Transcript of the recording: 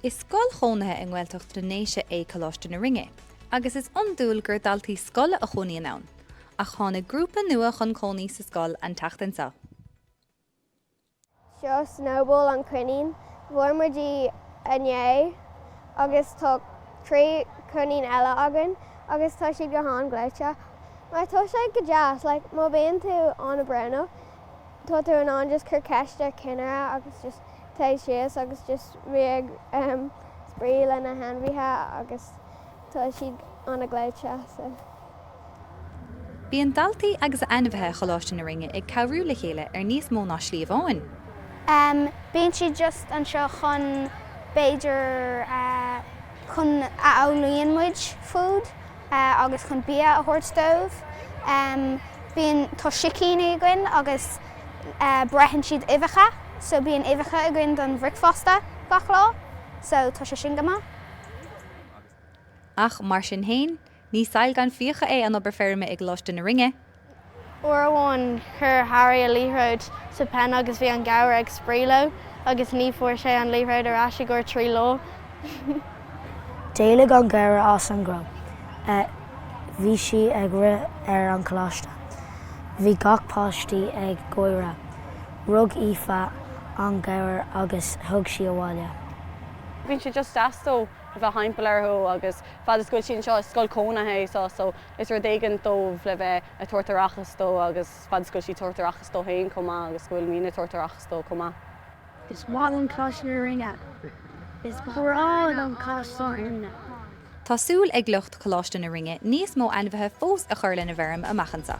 Is scoil chónaithe i nGaeltacht na nDéise é Coláiste na Rinne, agus is iondúil gur daltaí scoile a chónaíonn ann, ach tháinig grúpa nua chun cónaí sa scoil an tseachtain seo. Seo Snowball an coinín. Fuair muid í inné agus tá trí coinín eile againn agus tá siad go han-ghleoite mar tá sé go deas má bhíonn tú an-brónach tá tú in ann just cur ceist ar cinnire agus just téigh síos agus just bheith ag spraoi le na hainmhithe agus tá siad ana gleoite so. Bíonn daltaí agus ainmhithe Choláiste na Rinne ag cabhrú le chéile ar níos mó ná slí amháin. Bíonn siad just anseo chun b'fhéidir chun a fhaigheann muid food agus chun bia a thabhairt dóibh. Bíonn, tá sicíní againn agus. Beireann siad uibheacha so bíonn uibheacha againn don bhricfeasta gach lá so tá sé sin go maith. Ach mar sin fhéin, ní saill gan fiach é an obair feirme i gColáiste na Rinne. Uair amháin chuir Harry a liathróid sa pen agus bhí an gabhar ag spraoi léi agus ní fuair sé an liathróid ar ais i gcomhair trí lá. D'éalaigh an gabhar as an gcró agus bhí sí ag rith ar an choláiste. Bhí gach páistí ag gáire. Rug Aoife an gabhar agus thug sí abhaile. Bíonn sé just deas dóibh a bheith timpeall orthu agus fad is go bhfuil siad anseo, is scoil chónaithe é seo so is rud éigin dóibh le bheith a' tabhairt aireachais dó agus fad is go bhfuil siad tabhairt aireachais dóibh féin chomh maith agus go bhfuil muidne a' tabhairt aireachais dóibh chomh maith. Is maith liom Coláiste na Rinne. Is breá liom Coláiste na Rinne. Tá súil ag lucht Choláiste na Rinne níos mó ainmhithe fós a chur lena bhfeirm amach anseo.